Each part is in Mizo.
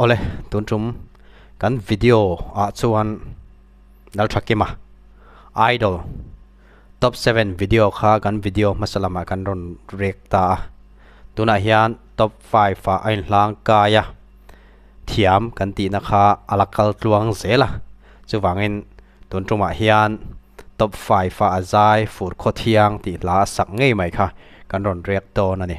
Awle, tun tum kan video ah chuan Lalthakim a idol top seven video kha kan video hmasa lamah kan rawn rek ta a. Tunah hian top five a a inhlang kai a. Thiam kan tihna kha a la kal tluang zel a. Chuvangin tun tumah hian top five a a zai fur khaw thiang tih hla a sak ngei mai kha kan rawn rek dawn a ni.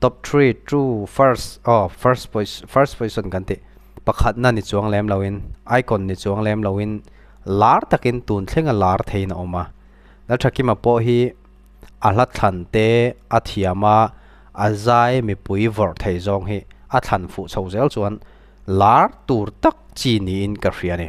Top three true first aw first position first position kan tih pakhat na ni chuang lem lo in icon ni chuang lem lo in lar takin tun thlenga lar thei na oma na thakima po hi a hla thlan te a thiama a zai mi pui vor thei zong hi a thlan fu chho zel chuan lar tur tak chi ni in ka hria ni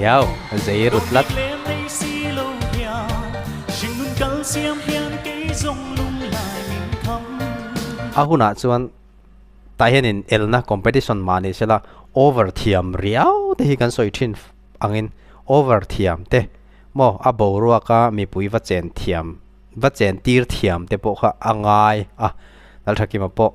Yaw, zei ru tlat. A hunah chuan tah hianin elna competition mahni sela over thiam riau te hi kan sawi thin angin over thiam te maw a boruaka mipui va chen thiam va chen tir thiam te pawh kha a ngai a Lalthakim-a pawh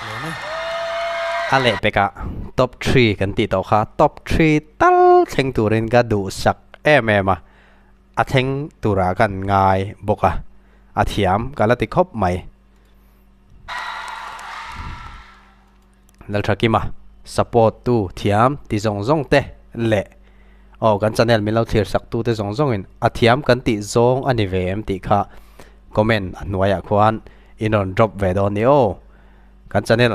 A leh pek ah top three kan tih tawh kha top three tal thleng tur in ka duhsak em em a, a thleng tur ah kan ngai bawk a, a thiam ka la ti khawp mai. Lalthakim a support tu thiam ti zawng zawng te leh. Aw, kan channel min lo thlir sak tute zawng zawng in a thiam kan tih zawng a ni ve em tih kha comment a hnuai ah khuan i rawn drop ve dawn ni aw. Kan channel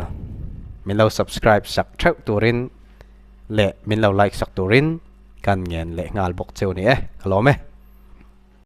min lo subscribe sak theuh tur in leh min lo like sak tur in kan ngen leh nghal bawk cheu ni e, ka lawm e.